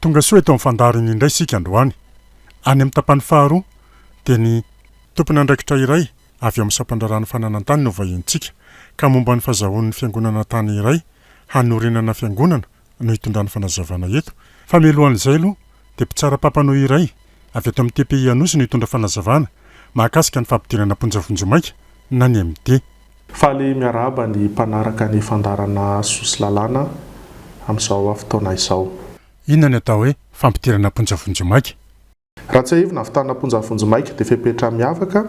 Tonga soa eto amin'ny fandaharana indray isika androany. Any amin'ny tapany faharoa dia ny tompon'andraikitra iray avy ao amin'ny sampandraharahan'ny fananantany no vahinintsika ka momba ny fazahoan'ny fiangonana tany iray hanorenana fiangonana no hitondrany fanazavana eto fa mialohan'izay aloha dia mpitsara papano iray avy ato amin'ny tpi Anosy no hitondra fanazavana mahakasika ny fampidirana am-ponja vonjimaika na ny MD Faly miarahaba ny mpanaraka ny fandaharana Sosy Lalàna amin'izao fotoana izao. Inona no atao hoe fampidirana am-ponja vonjimaika? Raha tsiahivina, ahavitana am-ponja vonjimaika dia fepetra miavaka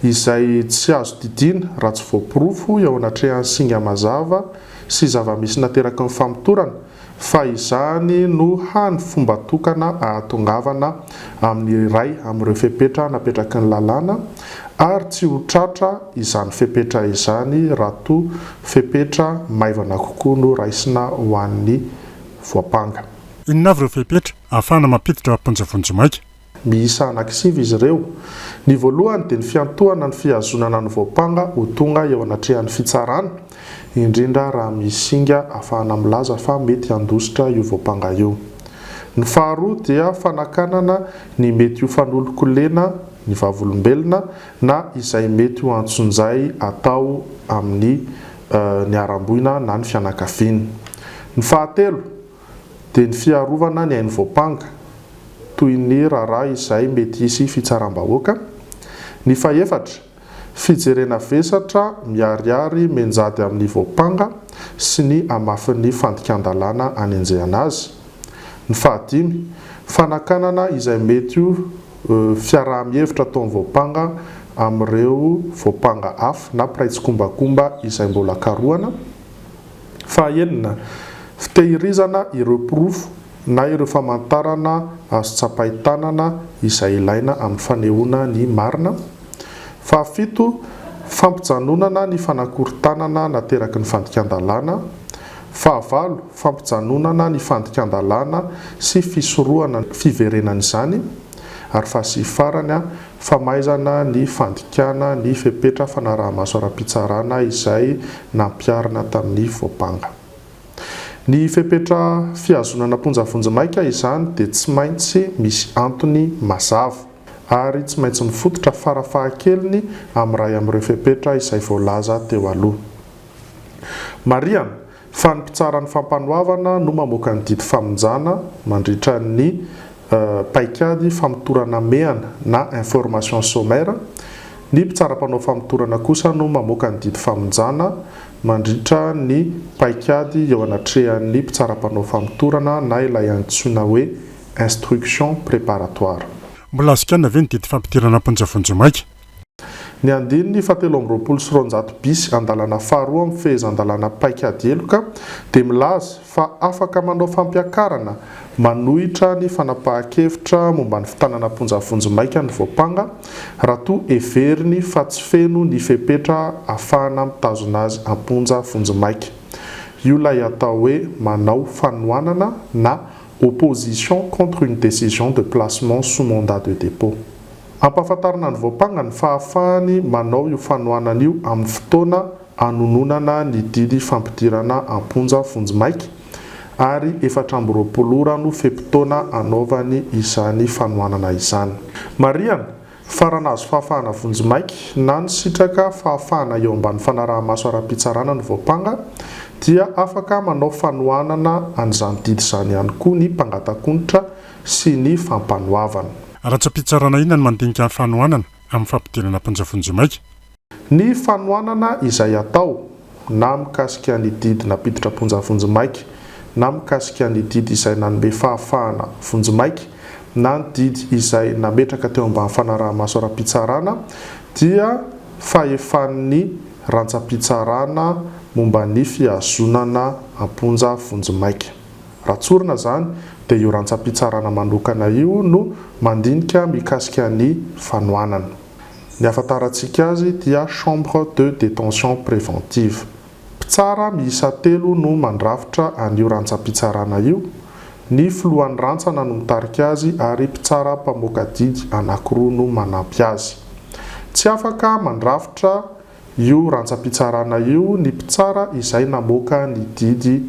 izay tsy azo didiana raha tsy voaporofo eo anatrehan'ny singa mazava sy zava-misy nateraky ny famotorana, fa izany no hany fomba tokana ahatongavana amin'ny iray amin'ireo fepetra napetraky ny lalàna ary tsy ho tratra izany fepetra izany raha toa fepetra maivana kokoa no raisina ho an'ny voampanga. Inona avy ireo fepetra ahafahana mampiditra am-ponja vonjimaika? Miisa anankisivy izy ireo. Ny voalohany dia ny fiantohana ny fihazonana ny voampanga ho tonga eo anatrehan'ny fitsarana, indrindra raha misy singa ahafahana milaza fa mety handositra io voampanga io. Ny faharoa dia fanakanana ny mety ho fanolon-kolena ny vavolombelona na izay mety ho antsonjay atao amin'ny niharam-boina na ny fianakaviany. Ny fahatelo. dia ny fiarovana ny ain'ny voampanga, toy ny raharaha izay mety hisy fitsaram-bahoaka, ny fahefatra, fijerena vesatra miharihary menjady amin'ny voampanga sy ny hamafin'ny fandikan-dalàna hanenjehana azy, ny fahadimy, fanakanana izay mety ho fiaraha-mihevitra ataon'ny voampanga amin'ireo voampanga hafa na mpiray tsikombakomba izay mbola karohana, Fahaenina, fitehirizana ireo porofo na ireo famantarana azo tsapain-tanana izay ilaina amin'ny fanehoana ny marina. Fahafito, fampijanonana ny fanakorontanana nateraky ny fandikan-dalàna. Fahavalo, fampijanonana ny fandikan-dalàna sy fisorohana ny fiverenan'izany. Ary faha sivy farany, famaizana ny fandikana ny fepetra fanarahamaso ara-pitsarana izay nampiharina tamin'ny voampanga. Ny fepetra fihazonana am-ponja vonjimaika izany dia tsy maintsy misy antony mazava, ary tsy maintsy mifototra farafahakeliny amin'ny iray amin'ireo fepetra izay voalaza teo aloha. Marihana, Fa ny mpitsara ny fampanoavana no mamoaka ny didy famonjana mandritra ny paikady famotorana amehana na information sommaire, ny mpitsara mpanao famotorana kosa no mamoaka ny didy famonjana mandritra ny paikady eo anatrehan'ny mpitsara mpanao famotorana na ilay antsoina hoe instruction préparatoire. Mbola azon-kianina ve ny didy fampidirana am-ponja vonjimaika? Ny andininy fahatelo amby roapolo sy roanjato bis andalana faharoa amin'ny fehezan-dalàna paikady heloka dia milaza fa afaka manao fampiakarana manohitra ny fanapahan-kevitra momba ny fitanana am-ponja vonjimaika ny voampanga raha toa heveriny fa tsy feno ny fepetra ahafahana mitazona azy am-ponja vonjimaika io ilay atao hoe manao fanohanana na opposition contre une décision de placement sous mandat de dépôt. Ampahafantarina ny voampangany fa hahafahany manao io fanohanana io amin'ny fotoana hanononana ny didy fampidirana am-ponja vonjimaika ary efatra amby roapolo ora no fe-potoana hanaovany izany fanohanana izany. Marihana fa raha nahazo fahafahana vonjimaika na nisitraka fahafahana eo ambany fanaraha-maso ara-pitsarana ny voampanga dia afaka manao fanohanana an'izany didy izany ihany koa ny mpangatak'onitra sy ny fampanoavana. Ratsa-pitsarana inona no mandinika ny fanohanana amin'ny fampidirana am-ponja vonjimaika? Ny fanohanana izay atao na mikasika ny didy nampiditra am-ponja vonjimaika, na mikasika ny didy izay nanome fahafahana vonjimaika, na ny didy izay nametraka teo ambany fanaraha-maso ara-pitsarana, dia fahefan'ny rantsa-pitsarana momba ny fihazonana am-ponja vonjimaika. Raha tsorina izany dia io rantsam-pitsarana manokana io no mandinika mikasika ny fanohanana. Ny ahafantarantsika azy dia chambre de détention préventive. Mpitsara miisa telo no mandrafitra an'io rantsam-pitsarana io, ny filohan'ny rantsana no mitarika azy ary mpitsara mpamoaka didy anankiroa no manampy azy. Tsy afaka mandrafitra. io rantsampitsarana io ny mpitsara izay namoaka ny didy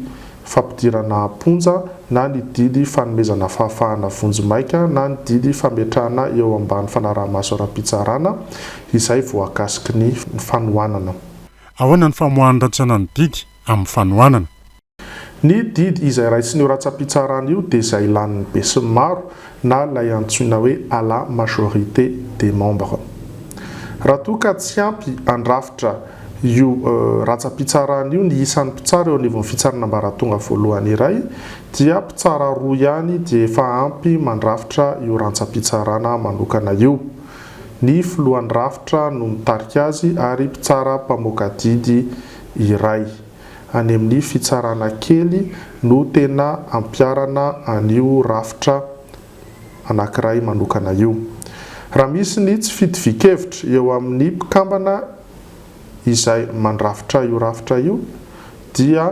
fampidirana am-ponja na ny didy fanomezana fahafahana vonjimaika na ny didy fametrahana eo ambany fanaraha-maso ara-pitsarana izay voakasiky ny fanohanana. Ahoana ny famoahan'ny rantsana ny didy amin'ny fanohanana? Ny didy izay raisin'io ratsam-pitsarana io dia izay lanin'ny besinimaro na ilay antsoina hoe à la majorité des membres. Raha toa ka tsy ampy handrafitra io ratsam-pitsarana io ny isan'ny mpitsara eo anivon'ny fitsarana ambaratonga voalohany iray dia mpitsara roa ihany dia efa ampy mandrafitra io rantsam-pitsarana manokana io. Ny filohan'ny rafitra no mitarika azy ary mpitsara mpamoaka didy iray. any amin'ny fitsarana kely no tena ampiharana an'io rafitra anankiray manokana io. Raha misy ny tsy fitovian-kevitra eo amin'ny mpikambana izay mandrafitra io rafitra io dia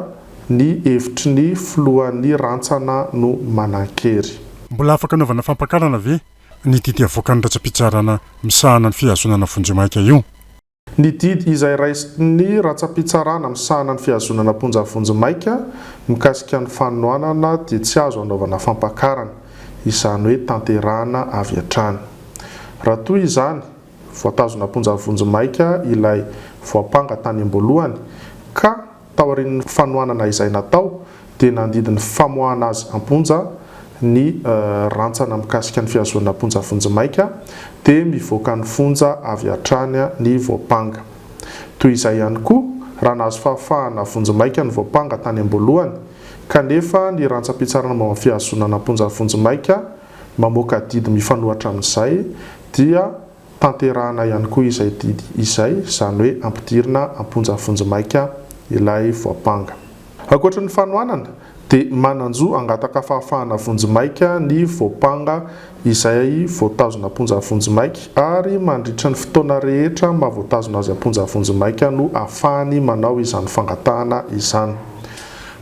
ny hevitry ny filohan'ny rantsana no manan-kery. Mbola afaka anaovana fampakarana ve ny didy avoakan'ny rantsa-pitsarana misahana ny fihazonana vonjimaika io? Ny didy izay raisin'ny rantsampitsarana misahana ny fihazonana am-ponja vonjimaika mikasika ny fanohanana dia tsy azo anaovana fampakarana, izany hoe tanterahana avy hatrany. Raha toa izany, voatazona am-ponja vonjimaika ilay voampanga tany am-boalohany, ka. Taorian'ny fanohanana izay natao dia nandidy ny famoahana azy am-ponja ny rantsana mikasika ny fihazoana am-ponja vonjimaika dia mivoaka ny fonja avy hatrany ny voampanga. Toy izay ihany koa raha nahazo fahafahana vonjimaika ny voampanga tany am-boalohany kanefa ny rantsampitsarana momba ny fihazonana am-ponja vonjimaika mamoaka didy mifanohatra amin'izay dia Tanterahina ihany koa izay didy izay, izany hoe ampidirina am-ponja vonjimaika ilay voampanga. Ankoatry ny fanohanana, dia manan-jo hangataka fahafahana vonjimaika ny voampanga izay voatazona am-ponja vonjimaika, ary mandritra ny fotoana rehetra maha-voatazona azy am-ponja vonjimaika no ahafahany manao izany fangatahana izany.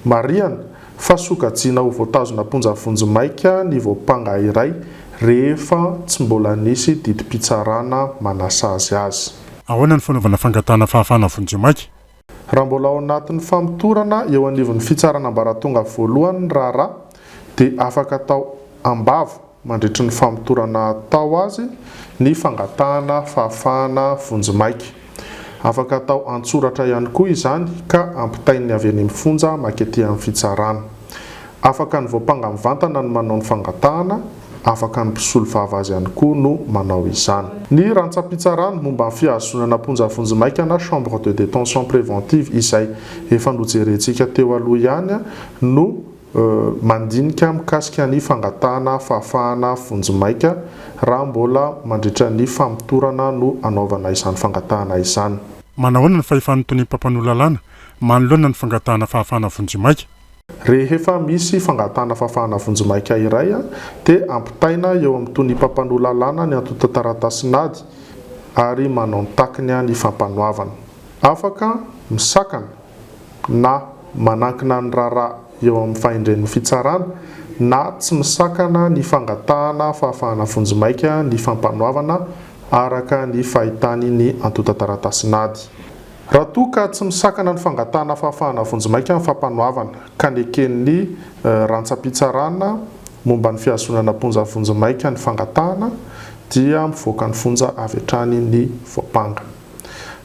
Marihana, Fa sokajiana ho voatazona am-ponja vonjimaika ny voampanga iray rehefa tsy mbola nisy didim-pitsarana manasazy azy. Ahoana ny fanaovana fangatahana fahafahana vonjimaika? Raha mbola ao anatin'ny famotorana eo anivon'ny fitsarana ambaratonga voalohany ny raharaha dia afaka atao am-bava mandritry ny famotorana atao azy ny fangatahana fahafahana vonjimaika. Afaka atao an-tsoratra ihany koa izany ka ampitain'ny avy eny amin'ny fonja makety amin'ny fitsarana. Afaka ny voampanga mivantana no manao ny fangatahana, afaka ny mpisolovava azy ihany koa no manao izany. Ny rantsam-pitsarana momba ny fihazonana am-ponja vonjimaika na chambre de détention préventive izay efa nojerentsika teo aloha ihany no. Mandinika mikasika ny fangatahana fahafahana vonjimaika raha mbola mandritra ny famotorana no anaovana izany fangatahana izany. Manahoana ny fahefan'ny toniam-pampanoa lalàna manoloana ny fangatahana fahafahana vonjimaika? Rehefa misy fangatahana fahafahana vonjimaika iray dia ampitaina eo amin'ny toniam-pampanoa lalàna ny antontan-taratasin'ady ary manao ny takiny ny fampanoavana. Afaka misakana. na manankina ny raharaha eo amin'ny fahendren'ny fitsarana na tsy misakana ny fangatahana fahafahana vonjimaika ny fampanoavana araka ny fahitany ny antontan-taratasin'ady. Raha toa ka tsy misakana ny fangatahana fahafahana vonjimaika ny fampanoavana ka neken'ny rantsam-pitsarana momba ny fihazonana am-ponja vonjimaika ny fangatahana dia mivoaka ny fonja avy hatrany ny voampanga.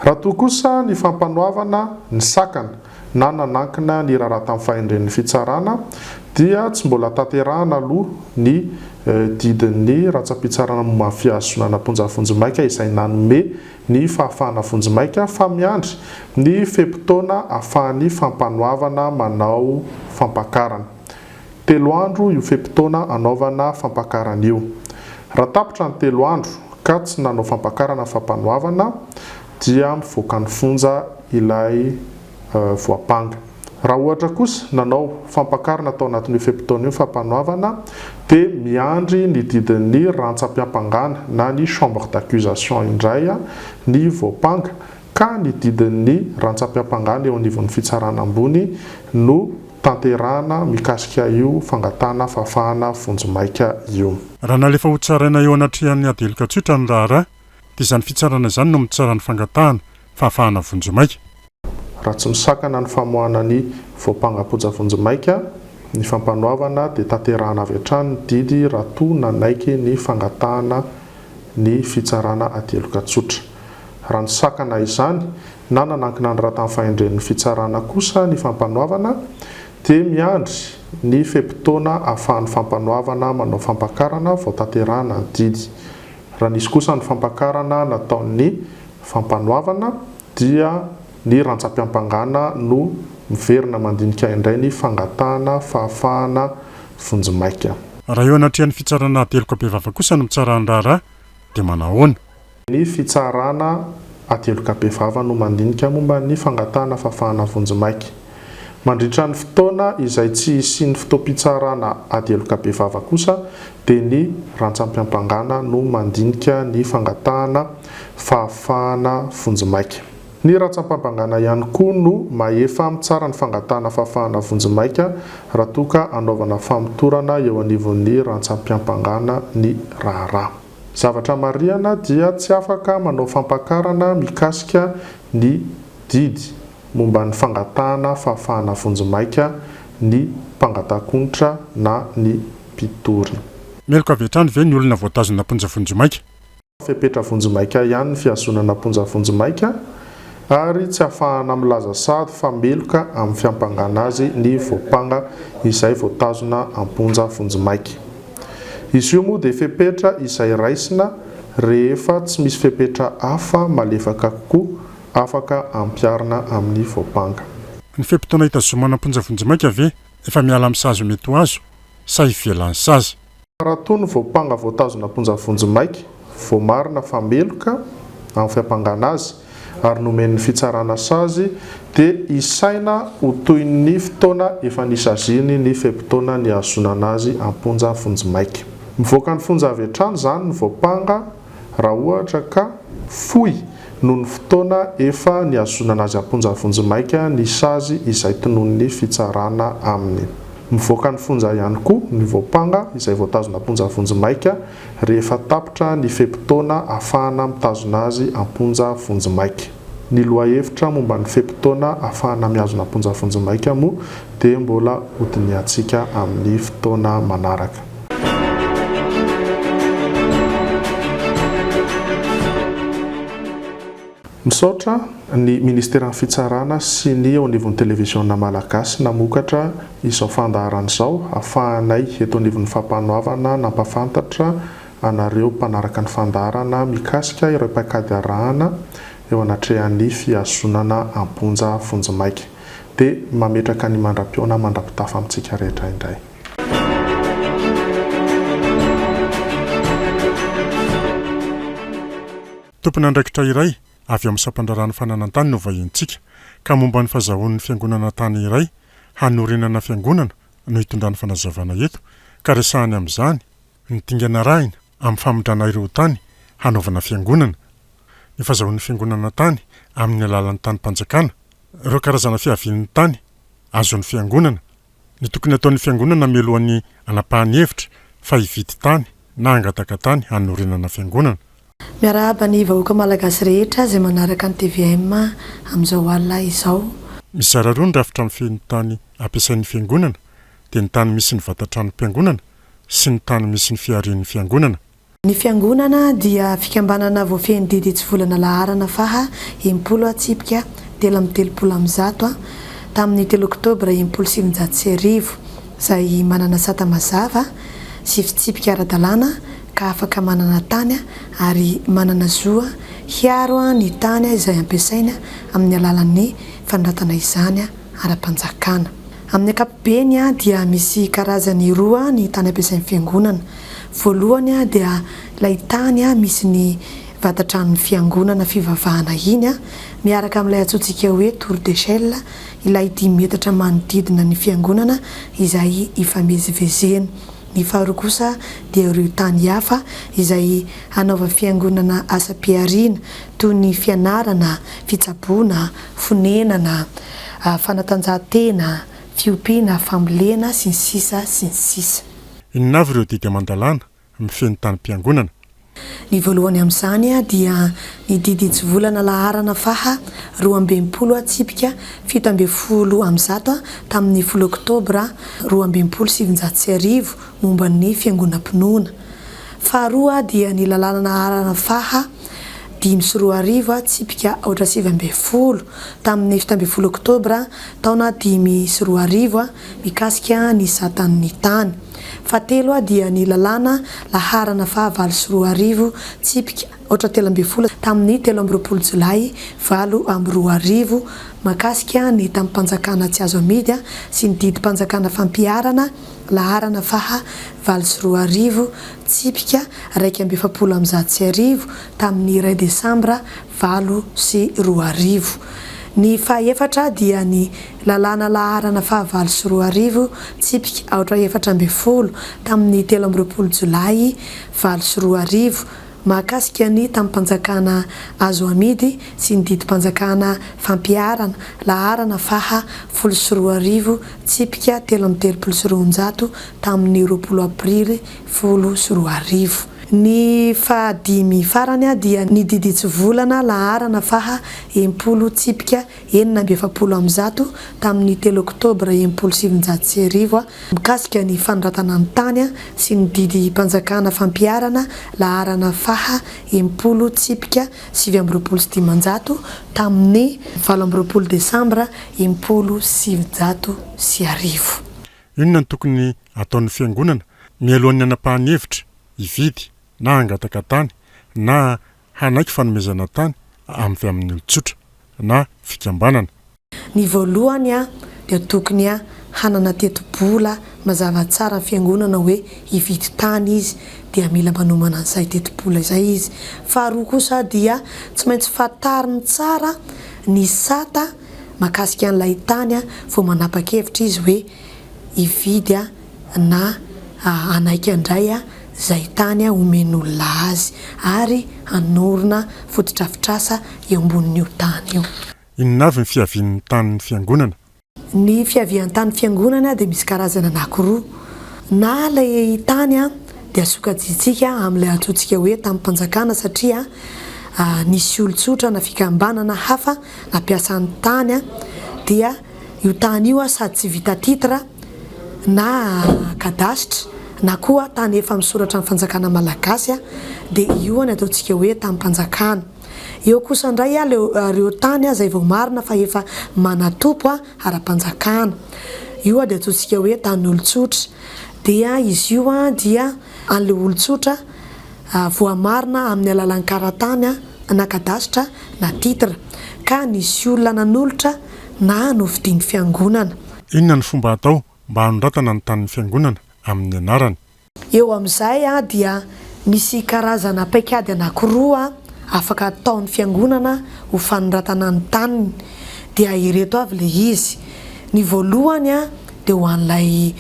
Raha toa kosa ny fampanoavana ny sakana na nanankina ny raharaha tamin'ny fahendren'ny fitsarana dia tsy mbola tanterahana aloha ny didin'ny rantsampitsarana momba ny fihazonana am-ponja vonjimaika izay nanome ny fahafahana vonjimaika fa miandry ny fe-potoana afahan'ny fampanoavana manao fampakarana. Telo andro io fe-potoana anaovana fampakarana io. Raha tapitra ny telo andro ka tsy nanao fampakarana fampanoavana dia mivoaka ny fonja ilay voampanga. Raha ohatra kosa nanao fampakarana tao anatin'io fe-potoana io fampanoavana dia miandry ny didin'ny rantsam-piampangana na ny chambre d'accusation indray ny voampanga ka ny didin'ny rantsam-piampangana eo anivon'ny fitsarana ambony no tanterahana mikasika io fangatahana fahafahana vonjimaika io. Raha nalefa hotsaraina eo anatrehan'ny ady heloka tsotra ny raharaha dia izany fitsarana izany no mitsara ny fangatahana fahafahana vonjimaika. Raha tsy misakana ny famoahana ny voampanga-poja vonjimaika ny fampanoavana dia tanterahana avy hatrany ny didy raha toa nanaiky ny fangatahana ny fitsarana ady heloka tsotra. Raha nisakana izany na nanankina ny ratan'ny fahendren'ny fitsarana kosa ny Fampanoavana dia miandry ny fe-potoana ahafahan'ny Fampanoavana manao fampakarana vao tanterahana ny didy. Raha nisy kosa ny fampakarana nataon'ny Fampanoavana dia ny rantsam-piampangana no miverina mandinika indray ny fangatahana fahafahana vonjimaika. Raha eo anatrehan'ny fitsarana ateloka bevava kosa no mitsara ny raharaha dia manahoana? Ny fitsarana aty Heloka-Bevava no mandinika momba ny fangatahana fafahana vonjimaika. Mandritra ny fotoana izay tsy hisian'ny fotoam-pitsarana ady Heloka-Bevava kosa dia ny rantsam-piampangana no mandinika ny fangatahana fahafahana vonjimaika. Ny rantsam-pambangana ihany koa no mahefa mitsara ny fangatahana fahafahana vonjimaika raha toa ka anaovana famotorana eo anivon'ny rantsam-piampangana ny raharaha. Zavatra marihana dia tsy afaka manao fampakarana mikasika ny didy momba ny fangatahana fahafahana vonjimaika ny mpangatakonitra na ny mpitory. Meloka avy hatrany ve ny olona voatazona am-ponja vonjimaika? Fepetra vonjimaika ihany ny fihazonana am-ponja vonjimaika. ary tsy afahana milaza sahady fa meloka amin'ny fiampangana azy ny voampanga izay voatazona am-ponja vonjimaika. Izy io moa dia fepetra izay raisina rehefa tsy misy fepetra hafa malefaka kokoa afaka ampiharina amin'ny voampanga. Ny fe-potoana hitazomana am-ponja vonjimaika ve efa miala amin'ny sazy ho mety ho azo sa ivelan'ny sazy? Raha toa ny voampanga voatazona am-ponja vonjimaika, voamarina fa meloka amin'ny fiampangana azy ary nomen'ny fitsarana sazy dia isaina ho toy ny fotoana efa nisaziany ny fe-potoana nihazonana azy am-ponja vonjimaika. Mivoaka ny fonja avy hatrany izany ny voampanga. raha ohatra ka fohy noho ny fotoana efa nihazonana azy am-ponja vonjimaika ny sazy izay tonon'ny fitsarana aminy. Mivoaka ny fonja ihany koa ny voampanga izay voatazona am-ponja vonjimaika rehefa tapitra ny fe-potoana ahafahana mitazona azy am-ponja vonjimaika. Ny lohahevitra momba ny fe-potoana ahafahana mihazona am-ponja vonjimaika moa dia mbola hodinihantsika amin'ny fotoana manaraka. Misaotra ny Ministeran'ny Fitsarana sy ny eo anivon'ny Televiziona Malagasy namokatra izao fandaharana izao ahafahanay eto anivon'ny Fampanoavana nampahafantatra anareo mpanaraka ny fandaharana mikasika ireo paikady arahana eo anatrehan'ny fihazonana am-ponja vonjimaika dia mametraka ny mandra-pihaona mandra-pitafa amintsika rehetra indray. Tompon'andraikitra iray avy amin'ny sampandraharahan'ny fananantany no vahinintsika ka momba ny fazahoan'ny fiangonana tany iray hanorenana fiangonana no itondrany fanazavana eto ka resahany amin'izany Ny dingana arahina amin'ny famindrana ireo tany hanaovana fiangonana, ny fazahoan'ny fiangonana tany amin'ny alalan'ny tanim-panjakana, ireo karazana fiavian'ny tany azon'ny fiangonana, ny tokony ataon'ny fiangonana mialohan'ny hanapahany hevitra fa hividy tany na hangataka tany hanorenana fiangonana. Miarahaba ny vahoaka malagasy rehetra izay manaraka ny tvm amin'izao alina izao. Mizara roa ny rafitra mifehy ny tany ampiasain'ny fiangonana dia ny tany misy ny vata-tranom-piangonana sy ny tany misy ny fiharian'ny Fiangonana. Ny Fiangonana dia fikambanana voafehin'ny didy hitsivolana laharana faha enimpolo atsipika telo amby telopolo amby zato a, tamin'ny telo oktobra enimpolo sy sivinjato sy arivo, izay manana sata mazava sy fitsipika ara-dalàna ka afaka manana tany ary manana zo hiaro ny tany izay ampiasainy amin'ny alalan'ny fanoratana izany ara-panjakana. Amin'ny ankapobeny dia misy karazany roa ny tany ampiasain'ny Fiangonana. Voalohany dia ilay tany misy ny vata-tranon'ny Fiangonana fivavahana iny, miaraka amin'ilay antsointsika hoe Tour d'Echelle, ilay dimy metatra manodidina ny Fiangonana izay ifamezivezena. Ny faharoa kosa dia ireo tany hafa izay hanaova Fiangonana asam-pihariana, toy ny fianarana, fitsaboana, fonenana, fanatanjahantena, fiompiana, fambolena, sy ny sisa sy ny sisa. Inona avy ireo didy aman-dalàna mifehy ny tanim-piangonana? Ny voalohany amin'izany dia ny didy hitsivolana laharana faha roa amby enimpolo an-tsipika fito ambin'ny folo amin'ny zato tamin'ny folo oktobra roa amby enimpolo sy sivinjato sy arivo momba ny fiangonam-pinoana. Faharoa dia ny lalàna laharana faha. dimy sy roa arivo tsipika aotra sivy ambin'ny folo tamin'ny fito ambin'ny folo oktobra taona dimy sy roa arivo mikasika ny satan'ny tany fahatelo dia ny lalàna laharana fahavalo sy roa arivo tsipika aotra telo ambin'ny folo tamin'ny telo amby roapolo jolay valo amby roa arivo makasika ny tamim-panjakana tsy azo amidy sy ny didim-panjakana fampiharana laharana faha valo sy roa arivo Tsipika iraika amby efapolo amby zato sy arivo tamin'ny iray Desambra valo sy roa arivo. Ny fahefatra dia ny Lalàna laharana fahavalo sy roa arivo, tsipika aotra efatra ambin'ny folo, tamin'ny telo amby roapolo Jolay valo sy roa arivo, mahakasika ny tamim-panjakana azo amidy sy ny didim-panjakana fampiharana, laharana faha folo sy roa arivo, tsipika telo amby telopolo sy roanjato, tamin'ny roapolo aprily folo sy roa arivo. Ny fahadimy farany dia ny didintsivolana laharana faha enimpolo tsipika enina amby efapolo amin'ny zato tamin'ny telo oktobra enimpolo sy sivinjato sy arivo mikasika ny fanoratana ny tany sy ny didim-panjakana fampiharana laharana faha enimpolo tsipika sivy amby roapolo sy dimanjato tamin'ny valo amby roapolo desambra enimpolo sy sivinjato sy arivo. Inona no tokony hataon'ny Fiangonana mialohan'ny hanapahany hevitra hividy na hangataka tany na hanaiky fanomezana tany avy amin'ny olon-tsotra na fikambanana? Ny voalohany dia tokony hanana tetibola mazava tsara ny Fiangonana hoe hividy tany izy dia mila manomana an'izay tetibola izay izy. Faharoa kosa dia tsy maintsy fantariny tsara ny sata mahakasika an'ilay tany vao manapa-kevitra izy hoe hividy na hanaiky handray izay tany homen'olona azy ary hanorina fotodrafitrasa eo ambonin'io tany io. Inona avy ny fiavian'ny tanin'ny Fiangonana? Ny fiavian-tanin'ny Fiangonana dia misy karazana anankiroa, na ilay tany dia sokajiantsika amin'ilay antsointsika hoe tanim-panjakana satria nisy olon-tsotra na fikambanana hafa nampiasa ny tany dia io tany io sady tsy vita titre na cadastre na koa tany efa misoratra amin'ny fanjakana malagasy dia io ny ataontsika hoe tamim-panjakana. Eo kosa indray ireo tany izay vao marina fa efa manatompo ara-panjakana. Io dia ataontsika hoe tanin'olon-tsotra. Dia izy io dia an'ilay olon-tsotra. voamarina amin'ny alalan'ny karatany na kadasitra na titre ka nisy olona nanolotra na novidian'ny Fiangonana. Inona no fomba atao mba hanondratana ny tanin'ny Fiangonana amin'ny anarany? Eo amin'izay dia misy karazana paikady anankiroa afaka ataon'ny Fiangonana ho fanondratana ny taniny. Dia ireto avy ilay izy. Ny voalohany dia ho an'ilay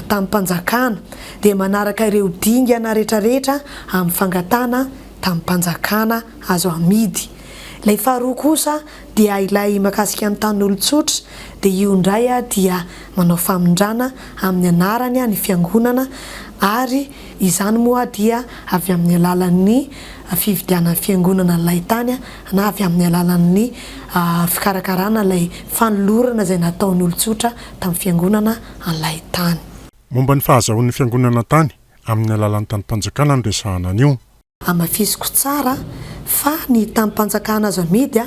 tamim-panjakana, dia manaraka ireo dingana rehetrarehetra amin'ny fangatahana tamim-panjakana azo amidy. Ilay faharoa kosa dia ilay mahakasika ny tanin'olon-tsotra, dia io indray dia manao famindrana amin'ny anarany ny fiangonana ary Izany moa dia avy amin'ny alalan'ny fividianan'ny fiangonana ilay tany na avy amin'ny alalan'ny fikarakarana ilay fanolorana izay nataon'ny olon-tsotra tamin'ny fiangonana an'ilay tany. Momba ny fahazahoan'ny fiangonana tany amin'ny alalan'ny tanim-panjakana no resahana anio. Hamafisiko tsara fa ny tanim-panjakana azo amidy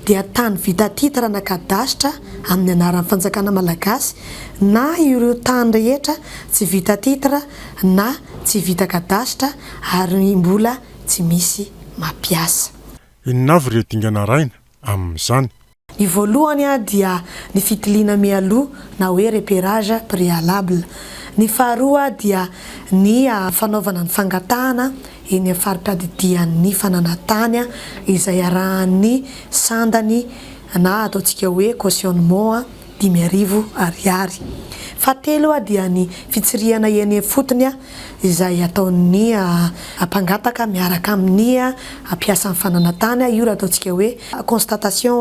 dia tany vita titre na kadasitra amin'ny anaran'ny fanjakana malagasy na ireo tany rehetra tsy vita titre na tsy vita kadasitra ary mbola tsy misy mampiasa. Inona avy ireo dingana arahina amin'izany? Ny voalohany dia ny fitiliana mialoha na hoe repérage préalable. Ny faharoa dia ny fanaovana ny fangatahana eny amin'ny fari-piadidian'ny fananantany izay arahan'ny sandany na ataontsika hoe cautionnement. dimy arivo ariary. Fahatelo dia ny fitsirihana eny ifotony izay ataon'ny mpangataka miaraka amin'ny mpiasan'ny fananantany, io raha ataontsika hoe constatation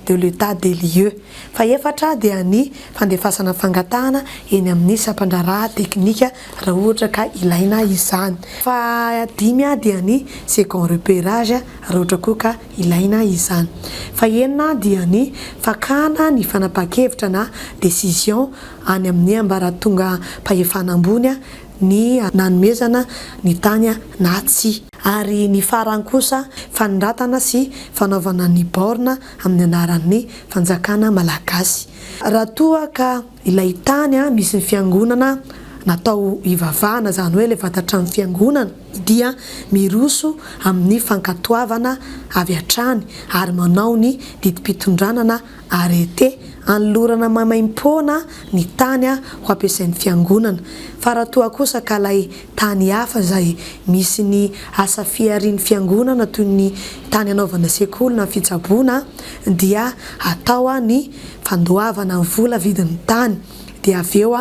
de l'état des lieux. Fahefatra dia ny fandefasana fangatahana eny amin'ny sampandraharaha teknika raha ohatra ka ilaina izany. Fahadimy dia ny second repérage raha ohatra koa ka. ilaina izany. Fahenina dia ny fakana ny fanapahan-kevitra na décision any amin'ny ambaratongam-pahefana ambony ny nanomezana ny tany na tsia. Ary ny farany kosa, fanoratana sy fanaovana ny baorina amin'ny anaran'ny fanjakana malagasy. Raha toa ka ilay tany misy ny fiangonana natao hivavahana, izany hoe ilay vatan-trano fiangonana, dia miroso amin'ny fankatoavana avy hatrany ary manao ny didim-pitondranana arrêté anolorana maimaim-poana ny tany ho ampiasain'ny fiangonana fa raha toa kosa ka ilay tany hafa izay misy ny asa fiharian'ny fiangonana toy ny tany hanaovana sekoly na fitsaboana dia atao ny fandoavana vola vidin'ny tany dia avy eo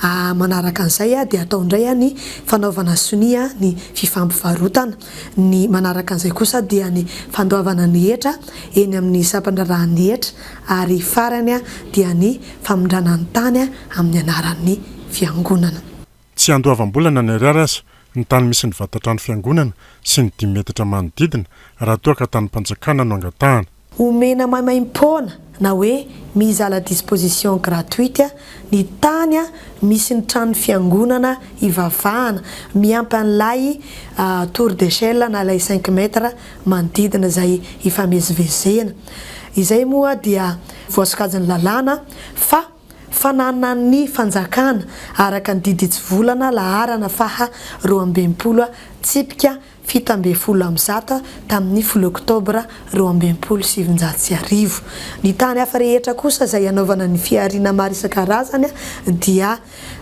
Aa manaraka an'izay dia atao indray ny fanaovana sonia ny fifampivarotana. Ny manaraka an'izay kosa dia ny fandoavana ny hetra eny amin'ny sampan-draharahan'ny hetra ary farany dia ny famindrana ny tany amin'ny anaran'ny fiangonana. Tsy andoavam-bola na ny ariary aza ny tany misy ny vatan-trano fiangonana sy ny dimy metatra manodidina raha toa ka tanim-panjakana no angatahana. Omena maimaim-poana na hoe mise à la disposition gratuite ny tany misy ny tranon'ny fiangonana hivavahana, miampy an'ilay tour d'echelle na ilay cinq mètres manodidina izay hifamezivezena. Izay moa dia voasokajin'ny lalàna fa. Fananan'ny fanjakana, araka ny didy hitsivolana laharana faha roa amby enimpolo tsipika fito ambin'ny folo amby zato tamin'ny folo oktobra roa amby enimpolo sy sivinjato sy arivo. Ny tany hafa rehetra kosa izay hanaovana ny fihariana maro isan-karazany dia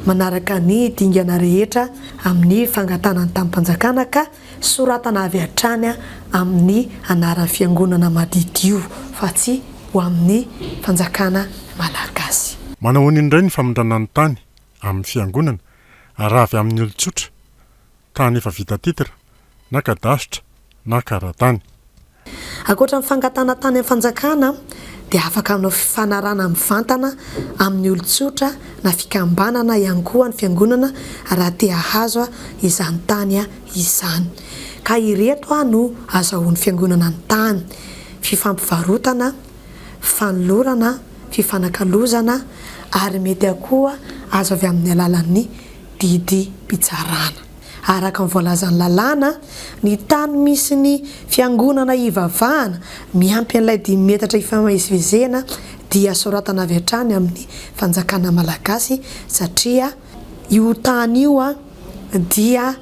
manaraka ny dingana rehetra amin'ny fangatahana ny tanim-panjakana ka Soratana avy hatrany amin'ny anaran'ny fiangonana madiodio fa tsy ho amin'ny fanjakana malagasy. Manao ahoana indray ny famindràna ny tany amin'ny fiangonana raha avy amin'ny olon-tsotra, tany efa vita titre, na kadasitra, na karatany. Ankoatra ny fangatahana tany amin'ny fanjakana dia afaka hanao fifanarahana mivantana amin'ny olon-tsotra na fikambanana ihany koa ny fiangonana raha te hahazo izany tany izany ka ireto no azahoan'ny fiangonana ny tany, fifampivarotana, fanolorana, fifanakalozana ary mety koa azo avy amin'ny alalan'ny didim-pitsarana. Araka ny voalazan'ny lalàna, ny tany misy ny fiangonana hivavahana miampy an'ilay dimy metatra ifamezivezena dia soratana avy hatrany amin'ny fanjakana malagasy satria io tany io dia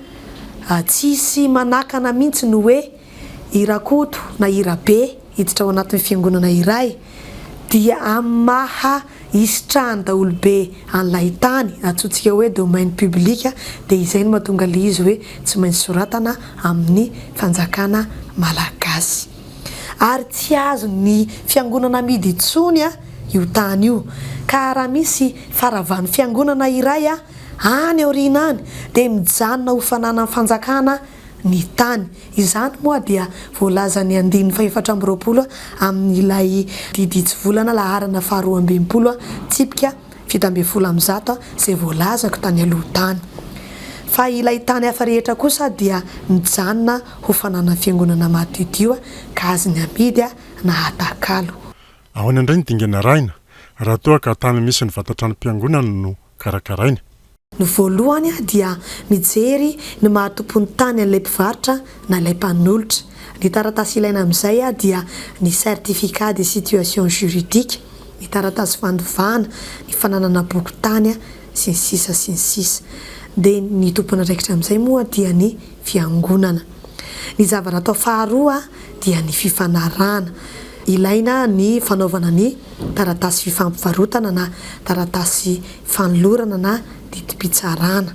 tsisy manakana mihitsy ny hoe I Rakoto na i Rabe hiditra ao anatin'ny fiangonana iray dia amin'ny maha hisitrahan'ny daholobe an'ilay tany, antsointsika hoe domaine public, dia izay no mahatonga ilay izy hoe tsy maintsy soratana amin'ny fanjakana malagasy. Ary tsy azon'ny fiangonana amidy intsony io tany io. Ka raha misy faravan'ny fiangonana iray any aoriana any dia mijanona ho fananan'ny fanjakana ny tany. Izany moa dia voalazan'ny andininy fahefatra amby roapolo amin'ilay diditsivolana laharana faharoa amby enimpolo, tsipika fito ambin'ny folo amby zato, izay voalazako tany aloha tany. Fa ilay tany hafa rehetra kosa dia mijanona ho fananan'ny fiangonana madiodio ka azony amidy na atakalo. Ahoana indray ny dingana arahina raha toa ka tany misy ny vata-tranom-piangonana no karakaraina? Ny voalohany dia mijery ny maha tompon'ny tany an'ilay mpivarotra na ilay mpanolotra. Ny taratasy ilaina amin'izay dia ny certificat de situation juridique, ny taratasy fandovana, ny fananana boky tany, sy ny sisa sy ny sisa. Dia ny tompon'andraikitra amin'izay moa dia ny fiangonana. Ny zava-ratao faharoa dia ny fifanarahana. Ilaina ny fanaovana ny taratasy fifampivarotana na taratasy fanolorana na didim-pitsarana.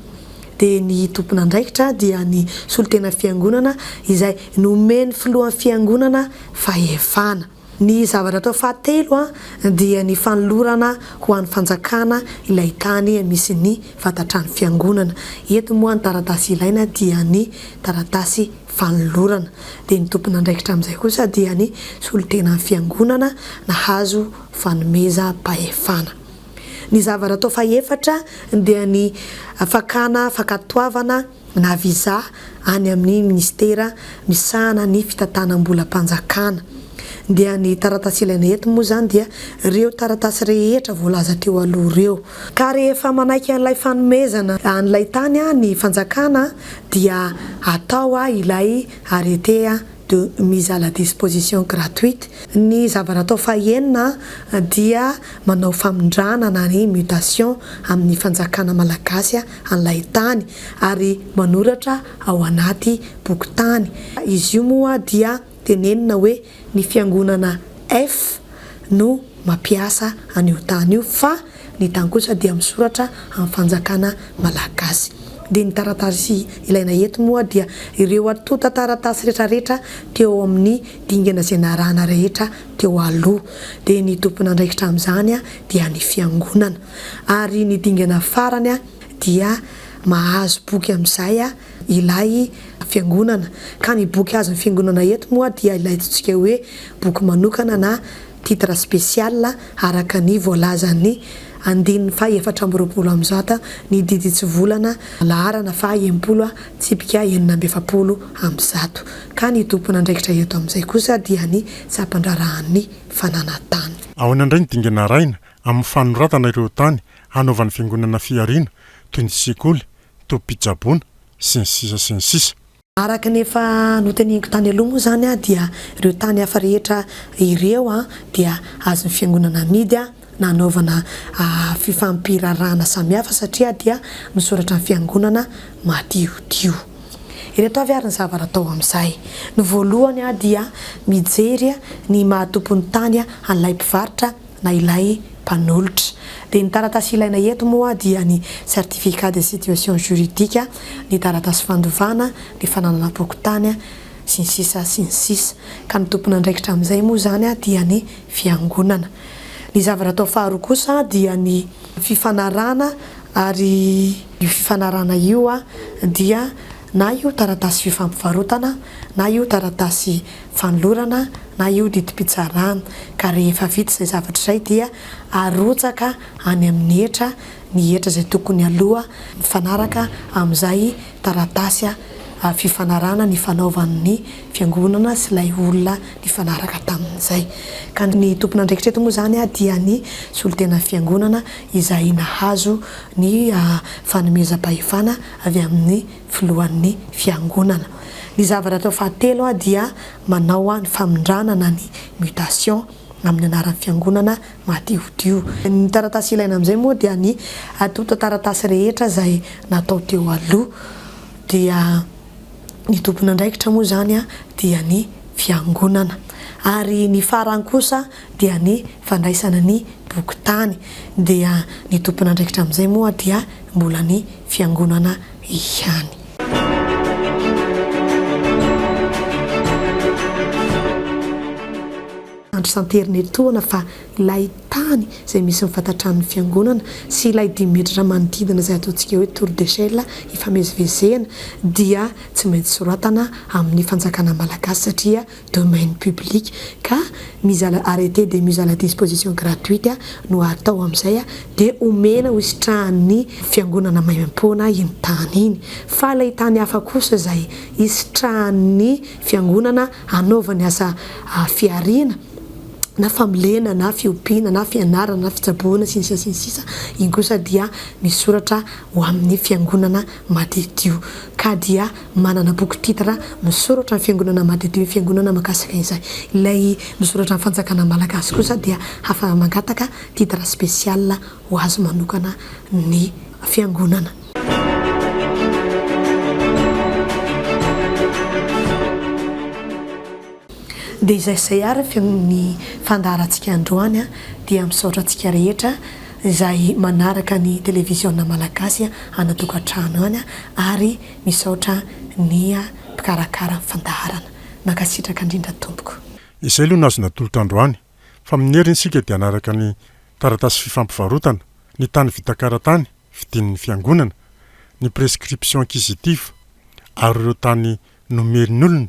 Dia ny tompon'andraikitra dia ny solontena fiangonana izay nomen'ny filohan'ny fiangonana fahefana. Ny zavatra atao fahatelo dia ny fanolorana ho an'ny fanjakana ilay tany misy ny vata-trano fiangonana. Eto moa ny taratasy ilaina dia ny taratasy fanolorana. Dia ny tompon'andraikitra amin'izay kosa dia ny solontenan'ny fiangonana nahazo fanomezam-pahefana. Ny zava-ratao fahefatra dia ny fakana fankatoavana na visa any amin'ny minisitera misahana ny fitantanam-bolam-panjakana. Dia ny taratasy ilaina eto moa izany dia ireo taratasy rehetra voalaza teo aloha ireo. Ka rehefa manaiky an'ilay fanomezana an'ilay tany ny fanjakana dia atao ilay arrêté de mise à la disposition gratuite, ny zava-natao fahenina dia manao famindrana na ny mutation amin'ny fanjakana malagasy an'ilay tany ary manoratra ao anaty bokin-tany. Izy io moa dia tenenina hoe ny fiangonana F no mampiasa an'io tany io fa. Ny tany kosa dia misoratra amin'ny fanjakana malagasy. Dia ny taratasy ilaina eto moa dia ireo antontan-taratasy retraretra teo amin'ny dingana izay narahana rehetra teo aloha. Dia ny tompon'andraikitra amin'izany dia ny fiangonana. Ary ny dingana farany dia mahazo boky amin'izay. ilay fiangonana, ka ny boky azon'ny fiangonana eto moa dia ilay antsointsika hoe boky manokana na titre spécial araka ny voalazan'ny andininy faha efatra amby roapolo amin'zata ny diditsivolana laharana faha enimpolo tsipika enina amby efapolo amby zato, ka ny tompon'andraikitra eto amin'izay kosa dia ny sampandraharahan'ny fananantany. Ahoana indray ny dingana arahina amin'ny fanoratana ireo tany hanaovan'ny fiangonana fihariana toy ny sekoly tobim-pitsaboana, sy ny sisa sy ny sisa. Araka ny efa noteneniko tany aloha moa izany dia ireo tany hafa rehetra ireo dia azon'ny Fiangonana amidy na hanaovana fifampiraharahana samihafa satria dia misoratra ny Fiangonana madiodio. Ireto avy ary ny zavatra atao amin'izay. Ny voalohany dia mijery ny maha tompon'ny tany an'ilay mpivarotra na ilay mpanolotra, dia ny taratasy ilaina eto moa dia ny certificat de situation juridique, ny taratasy fandovana, ny fananana fokontany, sy ny sisa sy ny sisa. Ka ny tompon'andraikitra amin'izay moa izany dia ny Fiangonana. Ny zava-ratao faharoa kosa dia ny fifanarahana ary io fifanarahana io dia na io taratasy fifampivarotana, na io taratasy fanolorana, na io didim-pitsarana, ka rehefa vita izay zavatra izay dia arotsaka any amin'ny hetra ny hetra izay tokony aloha mifanaraka amin'izay taratasy fifanarahana nifanaovan'ny fiangonana sy ilay olona nifanaraka tamin'izay, ka ny tompon'andraikitra eto moa izany dia ny solontenan'ny fiangonana izay nahazo ny fanomezam-pahefana avy amin'ny filohan'ny fiangonana. Ny zavatra atao fahatelo dia manao ny famindrana na ny mutation amin'ny anaran'ny fiangonana madiodio. Ny taratasy ilaina amin'izay moa dia ny antontan-taratasy rehetra izay natao teo aloha dia ny tompon'andraikitra moa izany dia ny fiangonana ary ny farany kosa dia ny fandraisana ny boky tany dia ny tompon'andraikitra amin'izay moa dia mbola ny Fiangonana ihany. Andro santeriny etoana fa ilay tany izay misy ny fatatran'ny Fiangonana sy ilay dimy metatra manodidina izay ataontsika hoe tour d'echelle hifamezivezena dia tsy maintsy soratana amin'ny fanjakana malagasy satria domaine public ka mizala arrete de mise à la disposition gratuite no atao amizay de omena ho sitrahan'ny fiangonana maimaimpoana iny tany iny fa ilay tany hafa kosa izay hisitrahan'ny fiangonana hanaovany asa fihariana na famolena na fiompiana na fianarana na fitsaboana sy ny sisa sy ny sisa iny kosa dia misoratra ho amin'ny fiangonana madiodio ka dia Manana boky titre Misoratra ny Fiangonana Madiodio ny Fiangonana mahakasika izay. Ilay Misoratra ny Fanjakana Malagasy kosa dia hafa mangataka titre spécial ho azy manokana ny Fiangonana. Dia izay sy izay ary ny fiangon ny fandaharantsika androany dia misaotra antsika rehetra izay manaraka ny Televiziona Malagasy ana tokantrano any ary Misaotra nia mpikarakara fandaharana. Mankasitraka indrindra tompoko. Izay aloha no azo natolotra androany, fa amin'ny heriny isika dia hanaraka ny taratasy fifampivarotana, ny tany vita karatany vidian'ny fiangonana, ny prescription acquisitive ary ireo tany nomerin'olona